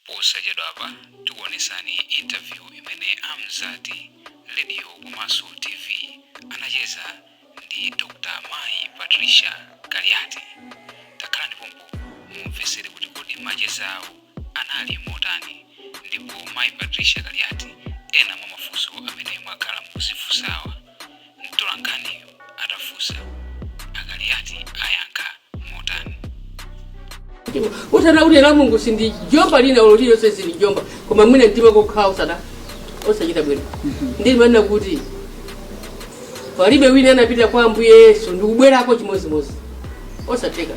Posachedwapa tikuonesani interview imene a Mzati Radio komanso TV anacheza ndi Dr. Mayi Patricia Kaliati. Takhalani pompa mumvetsere kuti kodi macheza awo anali motani ndipo Mayi Patricia Kaliati ena mwa mafunso amene mwakhala mukudzifunsawa. mtolankhaniyo atafunsa a Kaliati ayankha motani udana kuti la Mulungu sindijomba lina ulo lililonse sindijomba koma mwina mtima kokhala osada osachita bwino ndimanena kuti palibe wina anapita kwa ambuye yesu ndikubwerako chimodzimodzi osatheka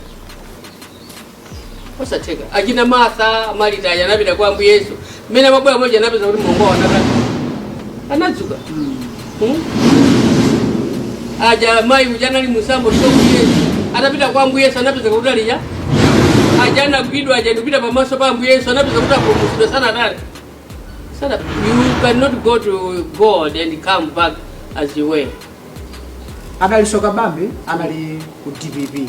osatheka achina martha Marita aja anapita kwa ambuye yesu mmene amabwera moja anapeza kuti mlongo wawo anatani anadzuka Hmm? aja mayi uja anali musambo shoku yesu anapita kwa ambuye yesu anapeza kuti alija aja anagwidwa aja ndikupita pamaso pa Ambuye Yesu anapeza kuti apulumutsidwa sanatani sana you cannot go to god and come back as you were anali soka bambo anali ku DPP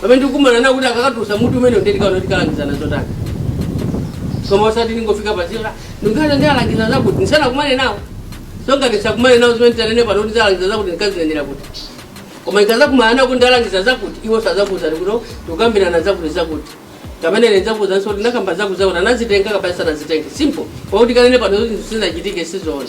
pamene ndikukumana nawo kuti akakatulutsa mutu umene ndiye tikaona kuti talangizana zotani koma osati ndingofika panjira ndikunena ndalangiza zakuti ndisanakumane nawo so ngati ndisanakumane nawo zimene tanene pano kuti ndalangiza zakuti ndikazinenera kuti koma ndikazakumana nawo kuti ndalangiza zakuti iwo sazakuuzani kuno tikukambirana zakuti zakuti kapena ine nzakuuzanso kuti ndakamba zakuti zakuti anazitenga kapena sanazitenga simple pakuti ndikanene pano kuti zinthu zisanachitike sizoona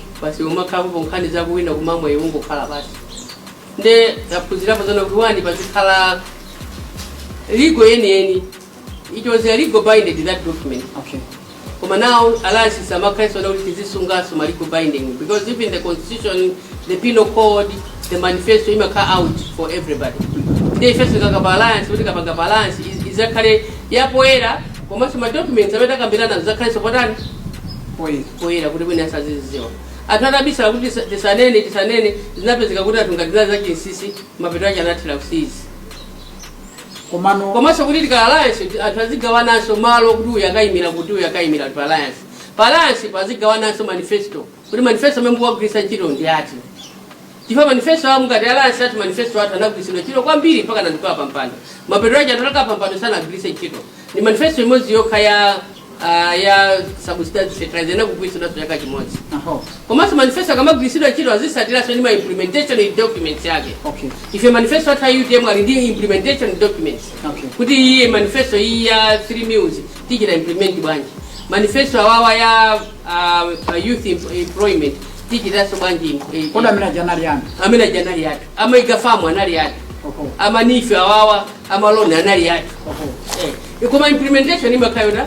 basi pumakhalapo nkhani za kuwina kumamwa iwe ungokhala basi nde taphunzirapo zona kuti wani pazikhala legal yeniyeni it was a legal binding that document Okay. koma now alliance samakhalanso kuti tizisunganso ma legal binding because even the constitution the penal code the manifesto imakhala out for everybody nde ifenso tikapanga pa alliance kuti tikapanga pa alliance iz- izakhale yapoyera komanso ma documents amene takambirana azakhalenso potani Poye. poyera kuti wina azazidziwa. Anthu atabisala kuti tisa- tisanene tisanene zinapezeka kuti anthu ngati zinali zachinsisi mapeto ache anathera kuchiyani komano komanso kuti tika alliance ti- anthu azigawananso malo kuti uyu akayimira kuti uyu akayimira pa alliance pa alliance azigawananso manifesto kuti manifesto amene tikuwagwiritsa ntchito ndi ati Chifukwa manifesto awo ngati alliance ati manifesto athu anagwiritsidwa ntchito kwambiri mpaka anatikola pa mpando. Mapeto ake atakhala pa mpando sanagwiritse ntchito. Ndi manifesto imodzi yokha ya ah, ya subsidy fertilizer inagwiritsidwa chaka chimodzi. Aho. Komanso manifesto akamagwiritsidwa ntchito azisatiranso ndi ma implementation documents yake. Okay. Ife manifesto athu a UTM ali ndi implementation documents. Okay. Kuti iye manifesto iyi ya 3 meals tichita implement bwanji. Manifesto awawa ya ah, youth em- employment tichitaso bwanji kodi amene aja anali ana amene aja anali athu ama mega farm anali athu oho ama NEEF awawa amaloni anali athu oho Eh, koma implementation imakhala yona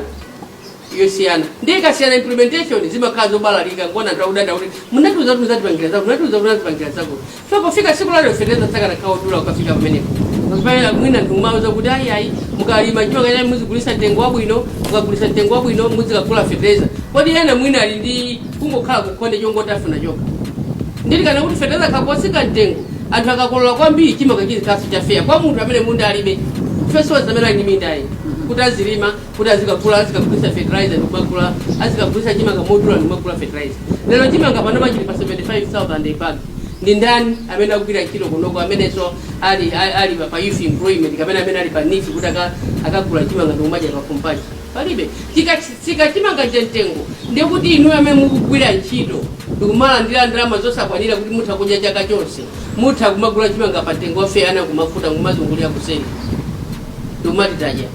yosiyana ndiye ikasiyana implementation zimakhala zobalalika ngona ndakudanda kuti munatiuza kuti muzatipangira zako munatiuza kuti muzatipangira zako So pofika tsiku la lero fertilizer sakanakhala odula kukafika pamenepo. Because pamene mwina ndikumauza kuti ayi ayi mukalima chimanga chanu muzigulitsa mtengo wabwino, mukagulitsa mtengo wabwino muzikagula fertilizer. Kodi ena mwina ali ndi kungokhala kukhonde chongoti afuna chokha. Ndili kana kuti fertilizer akatsika mtengo anthu akakolola kwambiri chimanga chizikhalaso cha fair kwa munthu amene munda alibe fesowa zamene ali ndi minda ayi kuti azilima kuti azikagula azikagulitsa fertilizer ndikumagula azikagulitsa chimanga modula ndikumagula fertilizer lero chimanga panopa chili pa 75000 a bag ndi ndani amene akugwira ntchito kunoko amenenso ali ali- ali pa- pa youth employment kapena amene ali pa NEEF kuti aka- akagula chimanga ndikumadya pakhomo paja palibe chikatsika chimanga cha mtengo ndiye kuti inu amene mukugwira ntchito ndikumalandira ndalama zosakwanira kuti mutha kudya chaka chonse mutha kumagula chimanga pa mtengo wa fair ana kumakhuta kumazungulira kuseri ndikumati tadya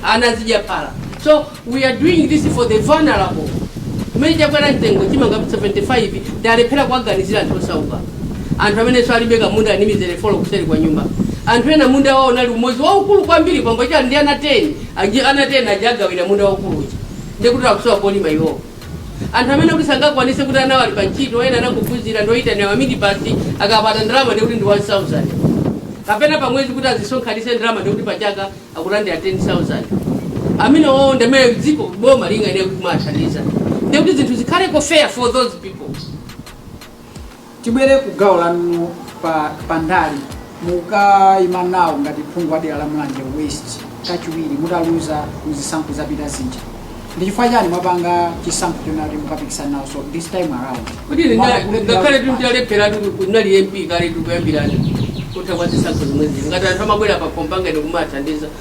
anazidya phala so we are doing this for the vulnerable kumene chakwera mtengo chimanga 75 talephera kuwaganizira anthu osauka anthu amenenso alibe kamunda ndi mizere 4 kuseri kwa nyumba anthu ena munda wawo unali umodzi waukulu kwambiri kwangocha ndi ana 10 aji- ana 10 aja agawira munda waukulu uja ndikuti akusowa polima iwowo anthu amene kuti sangakwanise kuti ana awo ali pa ntchito ena anangophunzira ndoyitanira maminibasi akapata ndalama ndikuti ndi 1000 kapena pa mwezi kuti azisonkhanise ndalama ndikuti pa chaka akulandira 10000 amenewowo ndamene dziko boma lingayenera kumawathandiza ndikuti zinthu zikhaleko fair for those people Tibwere ku gawo lanulo pa pa ndale mukaima nawo ngati phungu wa dera la Mulanje West kachiwiri mutaluza mu zisankho zapita zija. Ndi chifukwa chani mwapanga chisankho chonena kuti mukapikisana nawo so this time around? kuti lina- Mwapanga kuti ngakhale kuti mutipanga. talephera kuti kunali mp kale tikuyambirana kutha kwa zisankho zimwezi ngati anthu amabwera pa khomo panga ine kumathandiza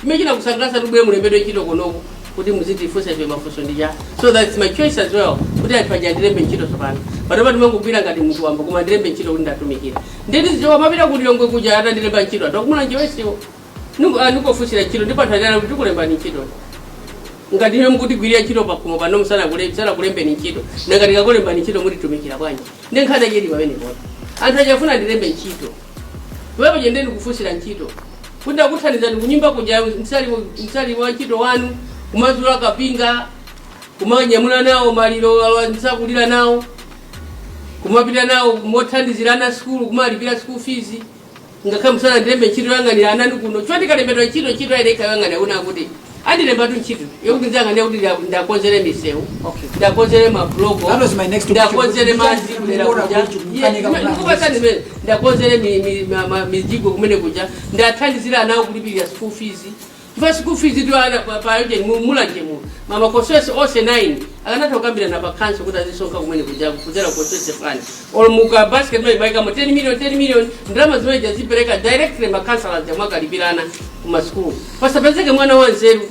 chimene chinakusangalatsani kuti mubwere mulembedwe ntchito kunoko kuti muzitifunsa ife mafunso ndi chani so that's my choice as well kuti anthu aja andilembe ntchito tsopano panopa ndimangogwira ngati munthu wamba koma andilembe ntchito kuti ndatumikira nditizichoka kumapita ku Lilongwe kuja atandilemba ntchito anthu a ku Mulanje West iwo ndikufunsira ntchito ndipo anthu aja akuti tikulembani ntchito ngati inu mukutigwirira ntchito pakhomo pano musanakulembeni ntchito nanga tikakulembani ntchito mutitumikira bwanji ndi nkhani yachedi pamenepo anthu aja afuna andilembe ntchito pamene paja nde ndikufunsira ntchito kuti ndakuthandizani kunyumba kuja ndisali ndisali wa ntchito wanu kumazula kapinga kumanyamula nawo maliro awa msakulira nawo kumapita nawo kumathandizira ana sukulu kumalipira school fees ngakhale musanandilembe ntchito yang'anira anani kuno choti ndikalembedwa ntchito ntchito ayenekayang'anira kuti andilembatu ntchito yokuti ndizakane kuti nda- ndakonzere misewu Okay. ndakonzere mabuloko That was my next question. ndakonzere Kuja- madzi kumene kuja- kuja. kuja- Iye, kukanika kumene- kukanika. ndikupatsani mmene ndakonzere mi- mi- ma- ma- mijigo kumene kuja ndathandizira nawo kulipirira school fees chifukwa school fees tu ana pa- pa ujeni mu- mulanje mu mma constituency onse 9 akanatha kukambirana pa council kuti azisonkha kumene kuja kudzera constituency fund olo muka basket mmene maikamo 10 million 10 million ndalama zimene zija zipereka directly makhansala aja mwakalipira ana ku masukulu pasapezeke mwana wa nzeru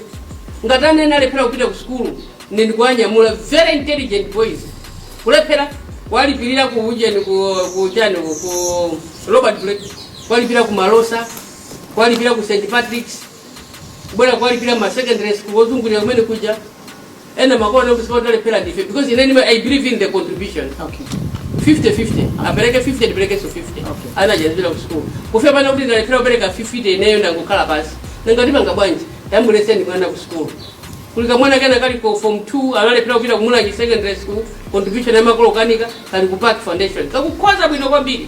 ngati ana ena alephera kupita ku sukulu ndi ndikuwanyamula very intelligent boys kulephera kuwalipirira ku ujeni ku ku chani ku- ku robert blake kuwalipira ku malosa kuwalipira ku st patricks kubwera kuwalipira ma secondary school ozungulira kumene kuja ena makolo kuti sikuti alephera ndife because ine ndima- i believe in the contribution okay 50-50 apereke 50 ndiperekenso 50 Okay. ana azipita ku school kufika pano kuti ndalephera kupereka 50 ineyo ndangokhala pansi ndingapange bwanji ndamuletse mwana ku school kuli kamwana kena kali ku form 2 analephera kupita ku mulanje secondary school contribution yamakolo kena kali ku park foundation kakukhoza bwino kwambiri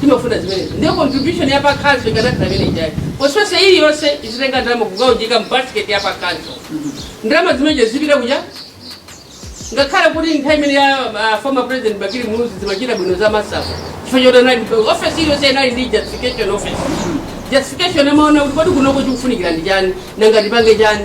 timafuna zimenezo ndiye contribution ya pa council ikanakhala imene ijayo constituency iliyonse zitenga ndalama nkukaunjika mu basket ya pa council ndalama zimenezo zipita kuja ngakhale kuti nthawi imene ya ah, former president bakili muluzi zimachitika bwino za masafu chifukwa choti anali office iliyonse inali ndi justification office justification amaona kuti kodi kunoko chikufunikira ndi chani nanga tipange chani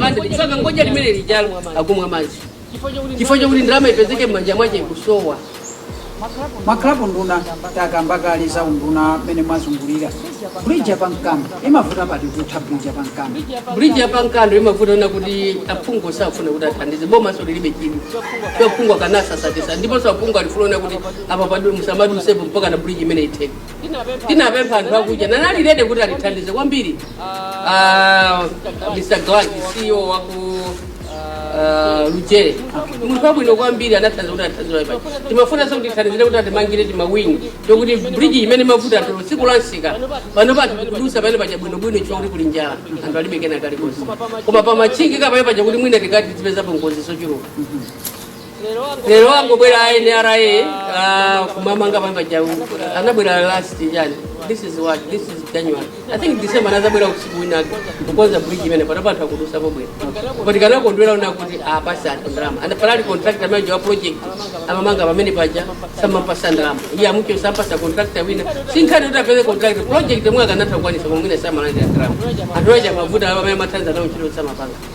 Madzi, tsoka ngoja limene lijalo akumwa madzi chifukwa chakuti ndalama ipezeke m'manja mwache kusowa maklabu nduna takamba kale za unduna mmene mwazungulira bridge yapa nkando imavuta pati kutha bridge yapa nkando bridge yapa nkando imavuta ena kuti aphungu safuna kuti athandize bomanso lilibe chidwi aphungu akanatsatsatitsa ndiponso aphungu alifuna kuti apa padwe musamadutsepo mpaka na bridge imene itheke tinapempha anthu akuja nanalirede kuti atithandize kwambiri Ah, mr glad ceo waku ah, lujere munthu wabwino kwambiri anathandiza kuti athandize paja timafunanso kuti atithandizire kuti atimangire timawingi tokuti bridge imene mavuta athu tsiku la msika pano anthu akudutsa pamene paja bwinobwino chifukwa kuti kuli njala anthu alibe kena kalikonse koma pamatchingika pamene paja kuti mwina tikanati tipezapo ngozi zochuluka lero angobwera a nra ah, kumamanga pamene paja anabwera last chani this is what this is january i think december anadzabwera usiku winake kukonza bridge imene pano anthu akudutsapo bwino koma tikanakondwera kuona kuti apasa anthu ndalama And panali contractor manager wa project amamanga pamene paja samapasa ndalama iye amati chifukwa sapasa contractor wina si nkhani kuti apeze contractor project yomwe akanatha kukwanisa koma mwina samalandira ndalama anthu aja mavuta amene amatenga nawo ntchito samapanga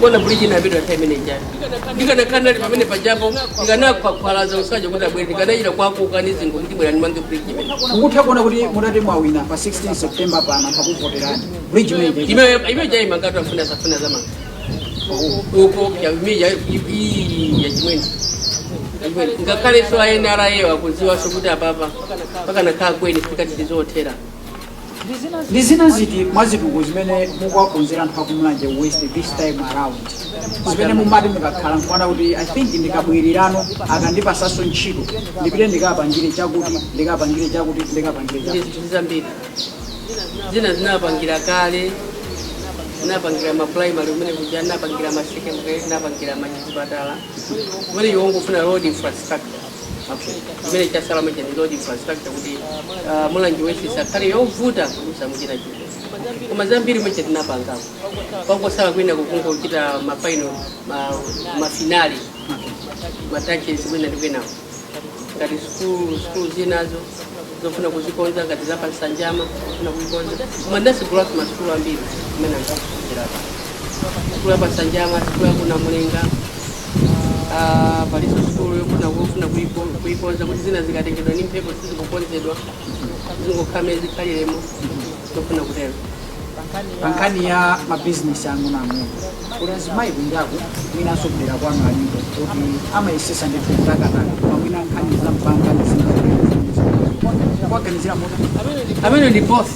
kuona bridge na bidwa time ni jana ndika na kanali pamene pa jambo ndika na kwa kwa za usaje kuta bridge ndika na ila kwa kwa kanizi ngo kuti bwana mangi bridge imene mukutha kuona kuti mutati mwawina pa 16 september pano pakuvoterani bridge mende ime ime jai mangato afuna safuna zama uko ya ime ya i ya jimweni ngakale so ayenara yewa kuziwa so kuti apapa paka na kaa kweni fikati tizothera ndi zina ziti mwa zitukuko zimene mukuwakonzera anthu aku Mulanje West this time around zimene mumati mukakhala mkuona kuti i think ndikabwirirano akandipasanso ntchito ndipite ndikapangire chakuti ndikapangire chakuti ndikapangire ndi chakuti zinthu zambiri zina tinapangira kale tinapangira ma primary kumene kuja tinapangira ma secondary tinapangira ma chipatala kumene iwo ngofuna road infrastructure Okay. Chimene chasala manje ndi road infrastructure kuti ah, Mulanje West isakhale yovuta kudusamo chitachita. Koma zambiri mwache tinapanga. Kwangosala kwina kokungochita ma final ma, ma final ma touches kwina ndi kwina. Ngati school school zinazo zofuna kuzikonza ngati za pansanjama zofuna kuikonza koma ndasegulaso masukulu ambiri amene ankakucherapo sukulu ya pa Nsanjama sukulu ya ku Namulenga ah, palinso sukulu yofuna kufuna kuiko- kuikonza kuti zina zikatengedwa ndi mphepo sizikukonzedwa zingokhala mmene zikhaliremo ndikufuna kutero pa nkhani ya mabizinesi ang'onoang'ono kuti azimayi kunjaku mwinanso kudera kwanu alipo kuti amayesesa ndithu kutakataka koma mwina nkhani za mpamba ndi zina kuwaganizira motani mmene ndi both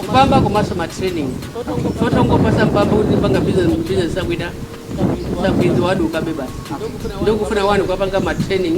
mpamba komanso matraining sotongopasa mpamba kuti panga business business sakuidziwa bwino zizavutabe basi ndikufuna wa kuwapanga matraining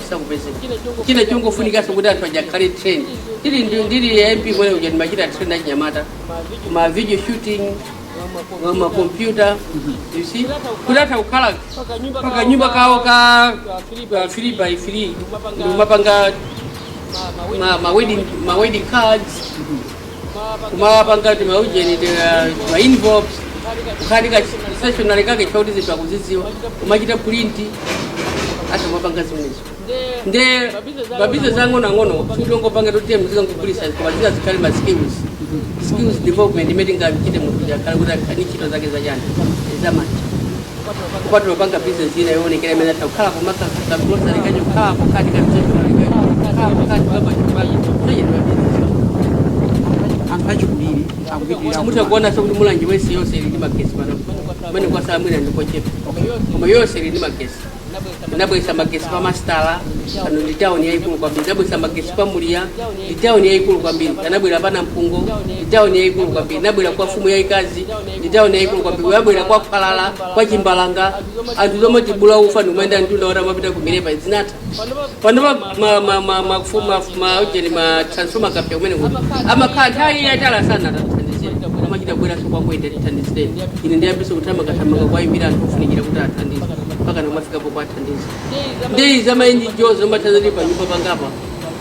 sakupezeka nde kungofunikanso kuti anthu aja akhale trained tili ndi- ndili MP kumene kuja ndimachita train achinyamata ma video shooting ma- ma computer you see kuti atha kukhala pa kanyumba kawo ka ka three by three nkumapanga ma, ma wedding ma wedding cards kumapanga timaujeni ma envelopes kukhala ndi ka stationery kake chifukwa choti zinthu akuzidziwa kumachita print azimapanga zimenezo nde mabizinesi ang'onoang'ono sikuti ongopanga zoti azikangogulisa koma zina zikhale ma skills skills development imene ingachite munthu akhale kuti akhale ndi ntchito zake zachani zamanja kupatula kupanga bizinesi ina yoonekera imene atha kukhala pompa ka grocery kawo kukhala pokati ka mtendo kukhala pokati kukamba chipali sayendwa bizinesi anthu achikulire akupitirira mutha kuona so kuti Mulanje West yonse ili ndi magesi panopo kumene kwasala mwina ndi kochepa koma yonse ili ndi magesi nabwesa magesi pa mastala pano ndi tawuni yayikulu kwambiri nabwesa magesi pa Muliya ndi tawuni yayikulu kwambiri nabwera pa Namphungo ndi tawuni yayikulu kwambiri nabwera kwa mfumu yayikazi ndi tauni yaikulu kwambiri nabwera kwa Khwalala kwa Chimbalanga anthu zomatibula ufa ndikumayenda mtunda woti amapita ku Milepa zinatha panopa ma- ma- ma- mafu- mafu- ma- ujeni ma transformer ikapsa kumene kuti amakhala nthawi yatali asanawathandize amachita kubweranso kwa ine kuti tithandizireni ine ndiyambiso kuthamangathamanga kuwayimbira anthu ofunikira kuti athandize mpaka nkumafikapo kuwathandiza ndeyi zamaenji jo zomathanzati pa nyumba pangapa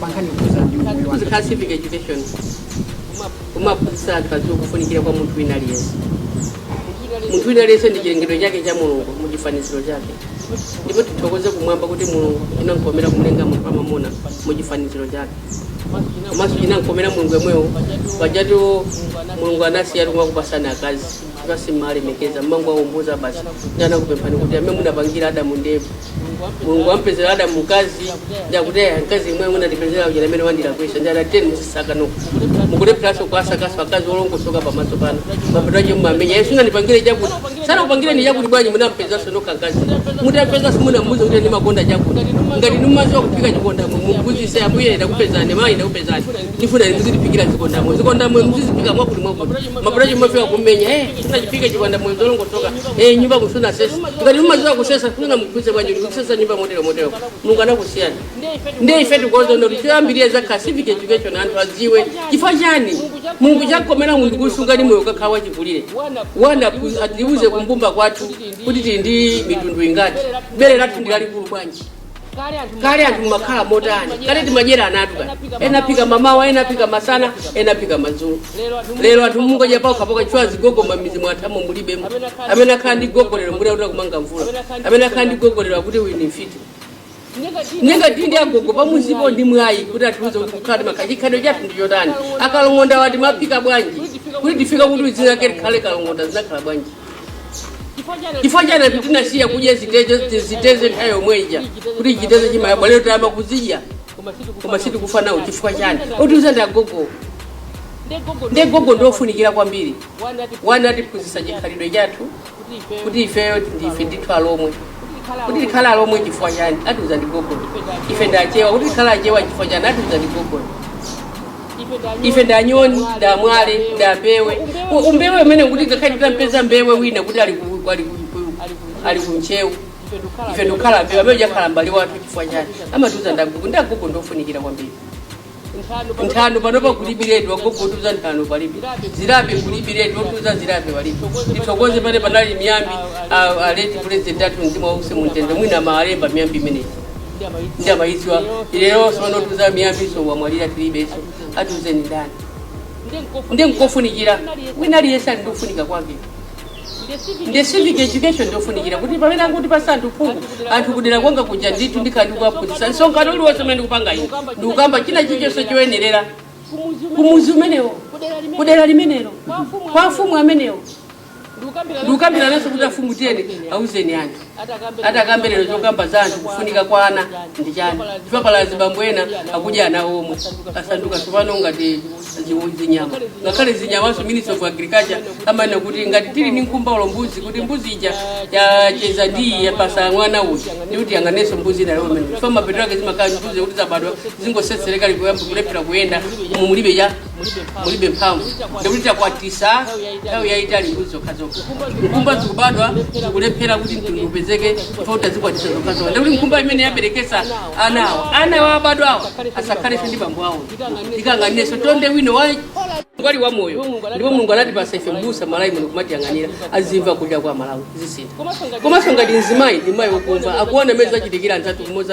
pankhani yokhuzana ndi umoyo wa kuzikhala civic education kuma- kumaphunzitsa anthu adziwe kufunikira kwa munthu wina aliyense munthu wina aliyense ndi chilengedwe chake cha mulungu mu chifaniziro chake ndipo tithokoze kumwamba kuti mulungu chinankomera kumulenga munthu wamamuna mu chifaniziro chake komanso chinankomera mulungu yemweyo pajatu mulungu anasiyatu kumakupasani akazi chifukwa simmalemekeza mmangowaumbuza basi nde anakupemphani kuti amene munapangira adamu ndi eva mulungu ampezera adamu mkazi nde akuti eya mkazi imwe amene munandipezera uja amene wandilakwisa ndi adateni muzisaka nokha mukulepheranso kuasakaso akazi olongosoka pamaso pano mapeto ache mumamenya eti sunandipangire chakuti sanakupangire ndi chakuti bwanji munampezanso nokha mkazi mutapeza simunamuuza kuti ndimakonda chakuti ngati inu mumaziwa kuphika chikondamoyo mumphunzise ambuye ndakupezani mayi ndakupezani ndifuna inu muzitiphikira zikondamoyo zikondamoyo muziziphika mwakuti mwakuti mapeto ache mumafika kummenya eh sunachiphike chikondamoyo zolongosoka eh nyumbaku sunasese ngati mumaziwa kusesa simunamuuze bwanji kuti kusesa nyumba motero motero mulungu anakusiyani ndiye ife tikuoza ndo tiambiriye za ka civic education anthu adziwe chifukwa chani mulungu chakomera munthu kusunga ndi moyo akakhala wachikulire wana ku- atiuze kumbumba kwathu kuti tili ndi mitundu ingati bere lathu ndi lalikulu bwanji kale anthu mumakhala motani kale timadyera ana athu kale ena aphika mamawa ena aphika masana ena aphika madzulo lero anthu mungodya paokhapaokha chifukwa azigogo mamizi mwathamo mulibe amene akhala ndi gogo lero mbuli akuti akumanga mvula amene akhala ndi gogo lero akuti uyu ni mfiti nde ngati tili ndi agogo pamuzipo ndi mwayi kuti atiuze kuti kukhala timakhala chikhalidwe chathu ndi chotani akalongondawa timaphika bwanji kuti tifika kuti zikhale kalongonda zinakhala bwanji chifukwa chani anthu tinasiya kudya ziteze ziteze nthawi yomweja kuti chiteze chimayabwa lero tayamba kuzidya koma sitikufa nawo chifukwa chani otiuza ndi agogo nde agogo ndiofunikira kwambiri wani atiphunzitsa chikhalidwe chathu kuti ifeyo ndife ndithu alomwe kuti tikhale alomwe chifukwa chani atiuza ndi gogo ife ndi achewa kuti tikhale achewa chifukwa chani atiuza ndi gogo ife ndanyoni ndamwale ndambewe U- umbewe umene kuti ngakhale titampeza mbewe wina kuti ali ku- ali ku- ku- ali ku ntcheu ife ndikukhala mbewe amene uja akhala mbale wathu chifukwa chani amatiuza ndagogo nde agogo ndofunikira kwambiri nthano panopa kulibiretu agogo otiuza nthano palibe zirape kulibiretu otiuza zirape palibe tithokoze pale panali miyambi a- a late pulezidenti athu mzimu wawo uuse mumtendere mwina amalemba miyambi imeneyi ndi amayidziwa lero sono otiuza miyambiso wamwalira tilibeso atiuze ni ndani nde nkofunikira wina aliyense ali ndi kufunika kwake nde civic education ndiofunikira kuti pamene akutipasa anthu phungu anthu kudera kwanga kuja ndithu ndikhala ndikuwaphunzitsa msonkhano uliwonse umene ndikupanga ine ndikukamba china chilichonse choyenerera kumuzi umenewo kudera limenelo kwa afumu amenewo ndikukambirananso kuti afumu tiyeni auzeni anthu atakambe lero chokamba za anthu kufunika kwa ana ndi chani chipapala azibambo ena akudya ana omwe asanduka tsopano ngati zi- zinyama ngakhale zinyamanso ministry of agriculture amanena kuti ngati tili ndi nkhumba ulo mbuzi kuti mbuzi ija yacheza ndi yapasa mwana uyu ndikuti yanganenso mbuzi ina chifukwa mapeto ake zimakhala mbuzi kuti zabadwa zingosetsereka zikulephera kuyenda mulibe cha mulibe mphamvu ndikuti zakwatisa nthawi yayitali mbuzi zokhazokha nkhumba zikubadwa zikulephera kuti mtundu upezeke chifukwa tazikwatisa zokhazokha ndikuti nkhumba imene yaberekesa ana awo ana awo abadwawo asakhalenso ndi bambo awo ikayang'anenso tonde wina wa ngwali wa moyo ndipo mulungu anatipasa ife mbusa malawi muno kumatiyang'anira azimva kulira kwa malawi zisintha komanso ngati mzimayi ndi mayi wokumva akuona mmene zachitikira anzathu kumodzi